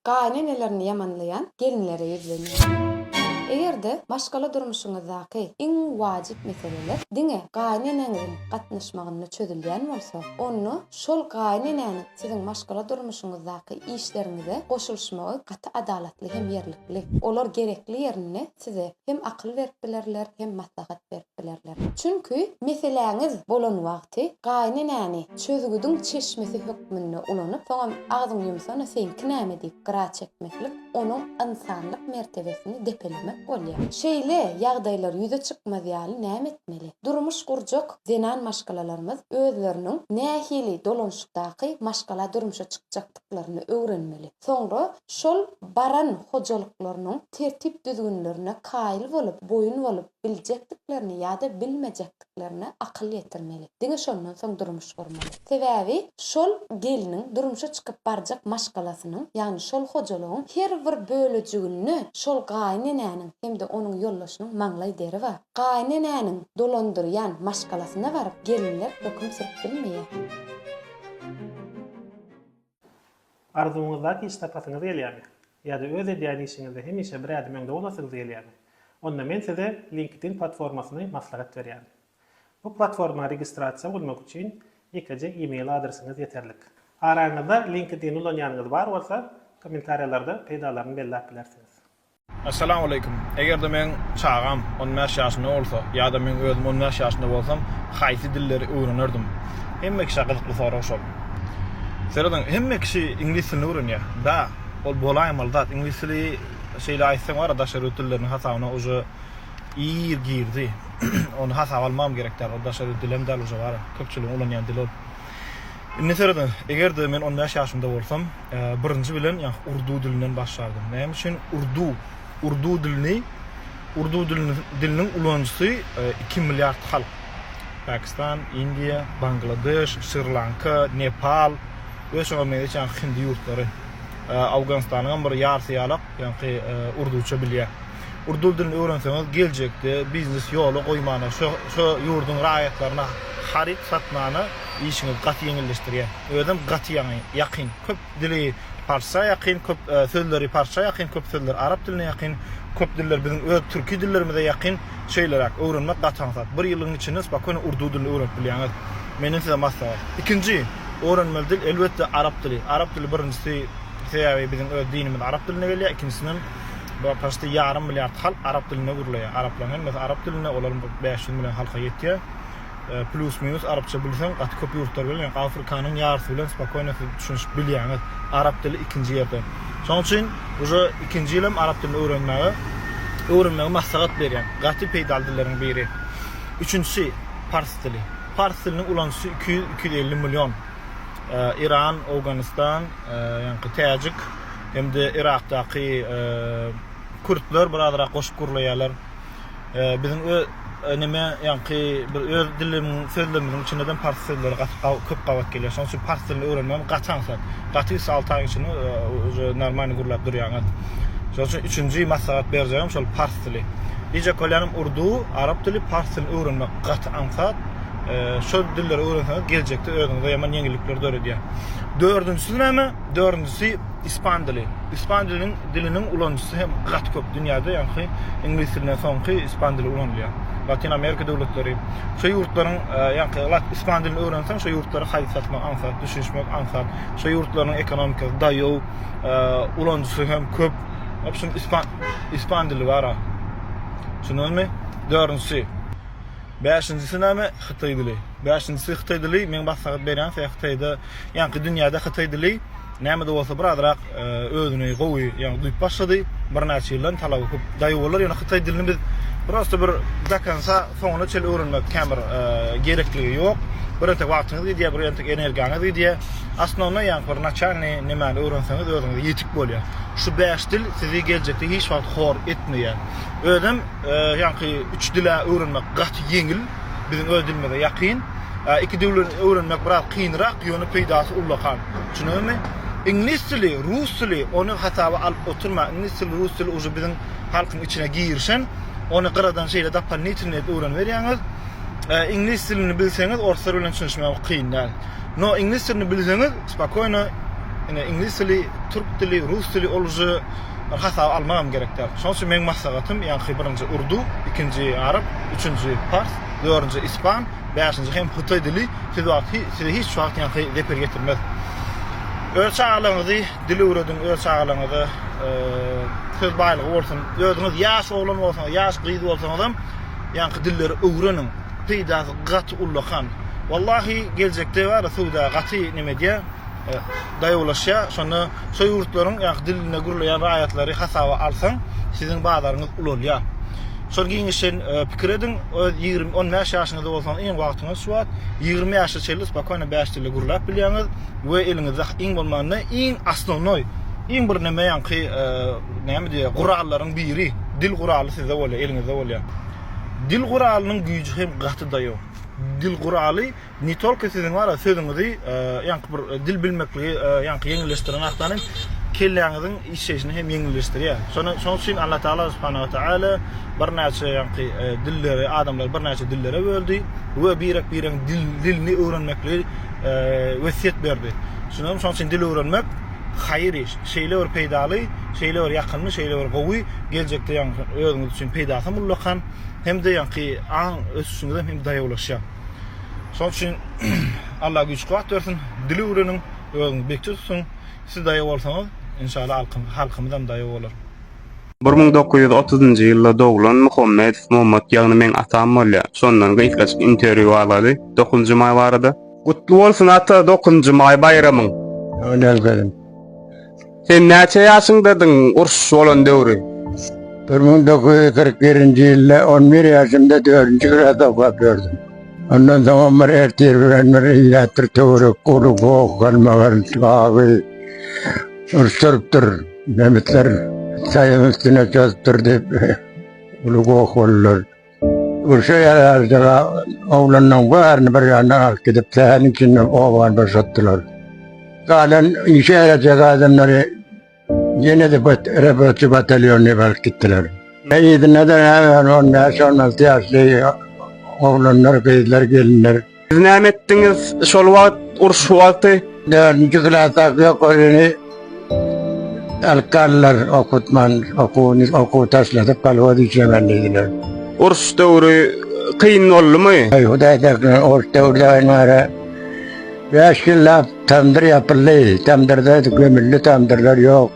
Gaýynenelerini ýamanlaýan gelinlere ýüzlenýär. Eger-de maşgala durmuşyňyzdaky iň wajyp meseleler diňe gaýyneneňiziň gatnaşmagynda çözülýän bolsa, onda şol gaýynenäniň siziň maşgala durmuşyňyzdaky işleriňize goşulyşmagy gaty adalatly hem ýerlikli. Olar gerekli ýerinde Size hem akyl berip bilerler, hem maslahat berip bilerler. Çünki meseläňiz bolan wagty gaýynenäni çözgüdiň çeşmesi hökmünde ulanyp, soňam agzyňy ýumsana seňki näme diýip gyra çekmeklik onuň ynsanlyk mertebesini depelemek bolýar. Şeýle ýagdaýlar ýüze çykmaz ýaly näme etmeli? Durmuş gurjak zenan maşgalalarymyz özleriniň nähili dolanyşykdaky maşgala durmuşa çykjakdyklaryny öwrenmeli. Soňra şol baran hojalyklarynyň tertip-düzgünlerine kaýyl bolup, boýun bolup biljekdiklerine ýa-da bilmejekdiklerine akyl ýetirmeli. Diňe şondan soň durmuş gurmaly. Sebäbi şol gelniň durmuşa çykyp barjak maşgalasynyň, ýagny şol hojalygyň her bir bölejiginde şol gaýynenäniň hem-de onuň ýoldaşynyň maňlaý deri bar. Gaýynenäniň dolandyrýan maşgalasyna baryp, gelinler höküm sürüp bilmeýär. Arzuwyňyzdaky iş tapasyňyz gelýärmi? Ýa-da öz edýän işiňizde hemişe bir ädim öňde bolasygz gelýärmi? Onda men size LinkedIn platformasyny maslahat berýärin. Bu platforma registrasiýa bolmak üçin ýekeje e-mail adresiňiz ýeterlik. Araňyzda LinkedIn ulanýanyňyz bar bolsa, kommentariýalarda peýdalaryny belläp bilersiňiz. Essalamu aleýkum. Eger-de meň çagam on bäş ýaşynda bolsa ýa-da meň özüm on bäş ýaşynda bolsam haýsy dilleri öwrenerdim? Hemme kişä gyzykly sorag şol. Serediň, hemme kişi iňlis dilini öwrenýä. Bä, ol bolaýmaly zat. Iňlis dili şeýle aýtsaň bar-a daşary ýurt dilleriniň hasabyna uje ir girdi. Ony hasaba almagam gerek däl. Ol daşary ýurt dili hem däl uje bar-a. Köpçüligiň ulanýan dili ol. Indi seret, eger-de men on bäş ýaşymda bolsam, birinji bilen ýa urdu dilinden başlardym. Näme üçin urdu? Urdu dilini, urdu diliniň ulanyjysy iki milliard halk. Pakistan, Indiýa, Bangladeş, Şri-Lanka, Nepal we şoňa meňzeş ýa hindi ýurtlary. Awganystanyňam bir ýarysy ýalak Ýaňky urduça bilýä. Urdu dilini öwrenseňiz geljekde biznes ýola goýmana şo şo ýurduň raýatlaryna haryt satmana işiňiz gaty ýeňilleşdirýä. Özem gaty ýaňy ýakyn. Köp dili parsça ýakyn, köp sözleri parsça ýakyn, köp sözleri arap diline ýakyn, köp diller biziň öz türki dillerimize ýakyn. Şeýleräk öwrenmek gaty aňsat. Bir ýylyň içinde spokony urdu dilini öwrenip bilýäňiz. Menden size maslahat. Ikinji öwrenmeli dil elbetde arap dili. Arap dili birinjisi. Sebäbi biziň öz dinimiz arap dilinde gelýär, ikinjisinden bu paşty ýarym milliard halk arap dilinde gürleýär. Araplaryň hemmesi arap dilinde, olaryň bir bäş ýüz million halka ýetýär. Plýus minus arapça bilseň gaty köp ýurtlar bilen ýa Afrikanyň ýarysy bilen spokojno siz düşünişip bilýäňiz. Arap dili ikinji ýerde. Şonuň üçin uje ikinji ýyl hem arap dilini öwrenmäge öwrenmegi maslahat berýän. Gaty peýdaly dilleriň biri. Üçünjisi pars dili. Pars diliniň ulanyjysy iki ýüz iki ýüz elli million. Iran, Owganystan, ýaňky Täjik hem-de Yrakdaky Kürtler birazrak goşup gürleýärler. Biziň ö neme ýaňky bir öz dilimiň sözlemimiň içinde dem pars sözleri gaty gawy köp gabat gelýär. Şonuň üçin pars dilini öwrenmem gaty aňsat. Gaty üç alty aýyň içinde uje normalny gürläp durýaňyz. Şonuň üçin üçünji maslahat berjegim şol pars dili. Dije kolýanym urdu, arap dili, pars dilini öwrenmek gaty aňsat. şol dilleri öwrenseňiz geljekde özüňize ýaman ýeňillikleri döredýär. Dördünjisi näme? Dördünjisi ispan dili. Ispan diliniň diliniň ulanyjysy hem gaty köp dünýäde, ýagny iňlis dilinden soňky ispan dili ulanylýar. Latyn Amerika döwletleri, şu ýurtlaryň, ýagny lat ispan dilini öwrenseň, şu ýurtlary haýyt satmak aňsat, düşünişmek aňsat. Şu ýurtlaryň ekonomikasy daýaw, ulanyjysy hem köp. Obşim ispan ispan dili bara. Düşündiňizmi? Dördünjisi. Bäşinjisi näme hytaý dili. Bäşinjisi hytaý dili meň maslahat berýän se hytaýda ýaňky dünýäde hytaý dili nämede bolsa bir azrak özüni gowy ýaňy duýup başlady bir näçe ýyldan talaby köp daýy bolar ýöne hytaý dilini biz prosta bir dakansa soňuna çel öwrenmek kän bir gerekligi ýok bir entek wagtyňyz gidýär bir entek energiýaňyz gidýär asnowna ýaňy bir naçalny nemäni öwrenseňiz özüňize ýetik bolýar şu bäş dil sizi geljekde hiç wagt hor etmeýär özem Ýaňky üç dili öwrenmek gaty ýeňil, biziň öz dilimize ýakyn. Iki dili öwrenmek biraz kynrak, ýöne peýdasy ullakan. Düşündüňizmi? Iňlis dili, rus dili, ony hasaba alyp oturma. Iňlis dili, rus dili uje biziň halkyň içine girişen. Ony gyradan şeýle dopolnitylnyý edip öwreniberýäňiz. Iňlis dilini bilseňiz, orslar bilen düşünişmek kyn däl. No, iňlis dilini bilseňiz, spokoýno, ine, iňlis dili, türk dili, rus dili, ol uje Bir hasaba almagam gerek däl. Şonuň üçin meň maslahatym, ýaňky birinji urdu, ikinji arap, üçünji pars, dördünji ispan, bäşinji hem hytaý dili siz wagt size hiç wagt ýaňky zeper getirmez. Öz çagalaryňyzy dil öwrediň, öz çagalaryňyza söz baýlygy bolsun. Özüňiz ýaş oglan bolsaňyz, ýaş gyz bolsaňyzam ýaňky dilleri öwreniň. Peýdasy gaty ullakan. Wallahi geljekde bar ya söwda gaty neme edýär. daýawlaşýar. Şonda şo ýurtlaryň ýa-da dilinde gürleýän raýatlary hasaba alsaň, siziň bazaryňyz ulalýar. Şol giňişen pikir ediň, öz ýigrimi, on bäş ýaşyňyzda bolsaňyz iň wagtyňyz şu wagt. Ýigrimi ýaşa çenli spokýono bäş dilde gürläp bilýäňiz we eliňizde iň bolmanda iň osnownoý, iň bir näme ýaňky näme diýýär, gurallaryň biri, dil guraly sizde bolýar, eliňizde bolýar. Dil guralynyň güýji hem gaty daýaw. Dil guraly Ne tolko siziň wara sözüňizi ýaňky bir dil bilmekligi ýaňky ýeňilleşdiren hakdan kelläňiziň işleýşini hem ýeňilleşdirýär. Şony şoň üçin Allah Taala subhanahu we taala birnäçe ýaňky dilleri adamlary birnäçe dillere böldi we birek biregiň dilini öwrenmekligi wesýet berdi. Şunuň şoň üçin dil öwrenmek haýyr iş. Şeýle bir peýdaly, şeýle bir ýakymly, şeýle bir gowy geljekde ýaňky özüňiz üçin peýdasy hem ullakan hem-de ýaňky aň ösüşiňize hem daýawlaşýar. Şol üçin Allah güýç kuwat bersin. Dili öwreniň, özüňi bekji tutuň. Siz daýaw bolsaňyz, inşallah alkym, halkymyzam daýaw bolar. Bir müň dokuz ýüz otuzynjy ýylda doglan Muhammedow Mommat ýagny meň atam bolýa. Şondan gysgaçyk interwýu alady Dokunjy maý barada. Gutly bolsun ata Dokunjy maý baýramyň. Önelgeliň. Sen näçe ýaşyňdadyň uruş bolan döwri? Bir müň dokuz ýüz kyrk birinji ýylda on bir ýaşymda dördünji gras okap ýördüm. Ondan soňam bir ertir bilen bir ilat bir töwerek gurup okan magar gaby urşdurypdyr. Nemisler saýyň üstüne çozupdyr diýip uly goh boldular. Urşa ýaraşdyga oglanlaryň baryny bir ýandan alyp gidip, säheriň içinde obany boşatdylar. Galan işe ýarajak adamlary ýene-de rabotçy batalýonyna baryp gitdiler. Yzyna-da näme on bäş-on alty ýaşly oglanlar, gyzlar, gelinler. Siz näme etdiňiz şol wagt, uruş wagty? Dördünji klasa ýok öýüni alkanlar okutman, okuny okuw taşladyp kolhoz işlemen diýdiler. Uruş döwri kyn boldumy? Öý hudaý däklen uruş döwründen bäri beş ýyllap tamdyr ýapyldy. Tamdyrda gömüldi, tamdyrlar ýok.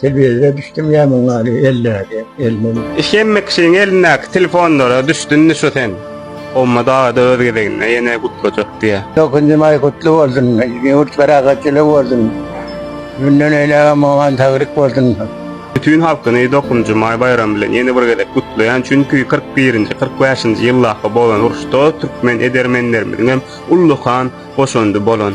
Telewizora düşdüm ya muň ali ellerde elmen. Hemme kişiň elindäki telefonlara düşdünmi şu sen? Omma dagada öz gezeginde ýene gutlajak diýä. Dokundym maý gutly bolsun. Ýurt parahatçyly bolsun. Münden eýlägem oňa saglyk bolsun. Bütün halkyny Dokunjy maý baýramy bilen ýene bir gezek gutlaýan çünki kyrk birinji kyrk bäşinji ýyldaky bolan uruşda türkmen edermenlerimiziňem ullakan goşandy bolan.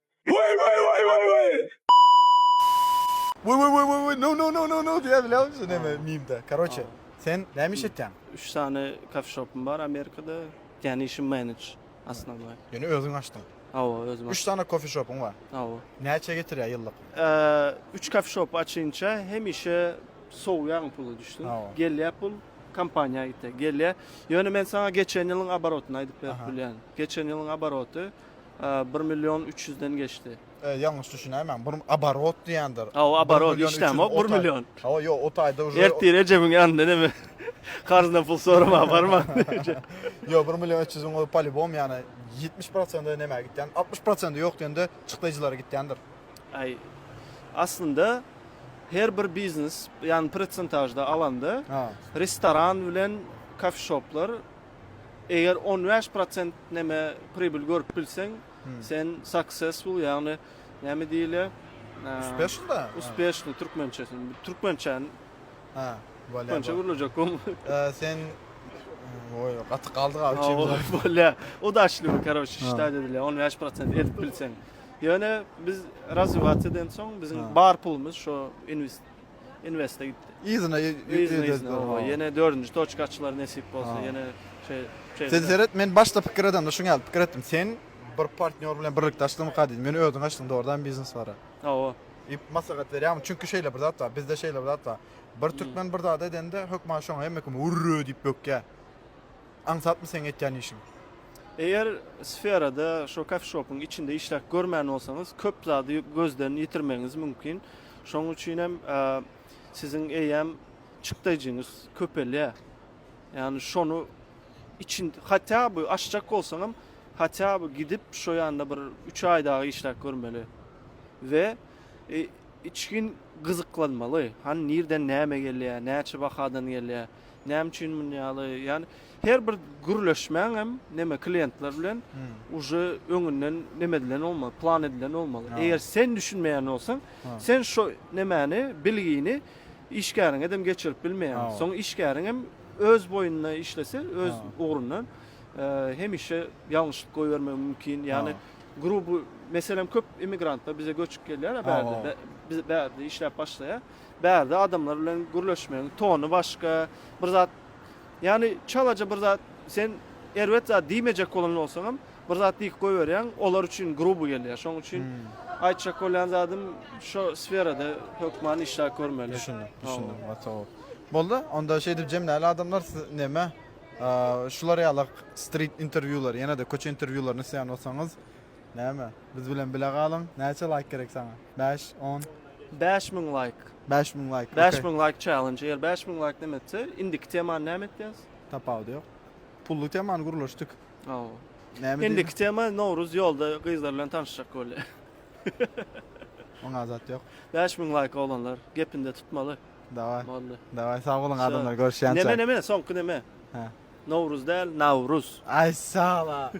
Way way way way way. Way way way way way no no no no no diýýär bilýäňmi şu neme mimde karoçe sen näme iş etýäň? Üç sany kafe shopym bar Amerikada yani işim manage asnanoý. Ýöne özüň açdyň. Hawa özüm açdym. Üç sany kofe shopyň bar. Hawa. Näçe getirýär ýyllyk? Üç kafe shop açynça hemişe sowýaň puly düşdüň. Gelýär pul kompaniýa gitýär gelýär. Ýöne men saňa geçen ýylyň abarotyny aýdyp berip bilýän. Geçen ýylyň abaroty. Bir million üç ýüzden geçdi. Ýalňyş düşünäýmäň, bir oborot diýendir. Ha, oborot, hiç näme, bir million. Ha, ýok, o taýda uje. Ertir ejemin ýanynda näme, karzdan pul soramaga barman. Ýok, bir million üç ýüzüň o polibom, ýani ýetmiş prosenti näme gitýän, altmyş prosenti ýok diýende çykdaýjylara gitýändir. Aý, aslynda her bir biznes, ýani prosentažda alanda, restoran bilen kofeşoplar Eger on bäş prosent neme pribil görüp bilseň, sen successful, ýagny näme diýilýär? Uspeshn da? Uspeshn türkmençesi. Türkmençäni. Ha, bolýar. Türkmençe gürlejek gom. Sen Oý, gaty galdy galy üçimiz. Bolýar. Udaşlymy, karoç, şita diýilýär. On bäş prosent edip bilseň. Ýöne biz razywat eden soň, biziň bar pulumyz şo invest Investe gitdi. Yzyna ýene dördünji toçka açylar nesip bolsa ýene şeý. Sen seret men başda pikir edemde şuň ýaly pikir etdim sen bir partnýor bilen birlikde açdyňmyka diýdim ýöne özüň açdyň dogrudanam biznes bara. Hawa. Maslahat berýärmiň çünki şeýle bir zat bar bizde şeýle bir zat bar bir türkmen bir zat edende hökman şoňa hemme kim urra diýip bökýär aňsatmy seň etýän işiň. Eger sferada şo kafişopyň içinde işläp görmän bolsaňyz köp zady gözden ýitirmegiňiz mümkin Şonuň üçin hem siziň eýýäm çykdaýjyňyz köpelýär. Ýagny şony için hatya bu aşjak bolsaňam hatya bu gidip şu ýanda bir 3 aý dagy işläp görmeli. We e, içgin gyzyklanmaly. Han nirden näme gelýär, näçe bahadan gelýär. Näme üçin muny ýaly? Ýani her bir gürleşmäň hem näme klientler bilen uje öňünden näme edilen bolmaly, plan edilen bolmaly. Eger sen düşünmeýän bolsaň, sen şo nämäni, bilgini işgäriňe dem geçirip bilmeýäň. Soň işgäriň hem öz boýunda işlese, öz ugrundan hemişe ýalňyşlyk goýbermegi mümkin. Ýani gruby, meselem köp immigrantlar bize göçüp gelýär, bärde işläp başlaýar. Bärde adamlar bilen gürleşmegiň tony başga, bir zat, ýagny çalaja bir zat, sen erbet zat diýmejek bolan bolsaňam, bir zat diýip goýberýäň, olar üçin gruby gelýär. Şonuň üçin aýtjak bolýan zadym, şo sferada hökman işläp görmeli. Düşündim, düşündim, gaty gowy. Boldy, onda şeýdip jemläli adamlar, siz näme, şular ýaly strit interwýulary, ýene-de köçe interwýularyny isleýän bolsaňyz, näme, Biz bilen bile galyň. Näçe laýk gerek saňa? Bäş, on? Bäş müň laýk. Bäş müň laýk. Bäş müň laýk challenge. Eger bäş müň laýk näme etse, indiki temany näme etýäs? Tapawudy ýok. Pully temany gürleşdik. Hawa. Näme diýdi? Indiki tema Nowruz ýolda gyzlar bilen tanyşjak bolýa. Oňa zat ýok. Bäş müň laýk oglanlar. Gepinde tutmaly. Daway. Boldy. Daway sag boluň adamlar görüşýänçä. Neme neme soňky neme? Hä. Nowruz däl, Nawruz. Aý sag bol.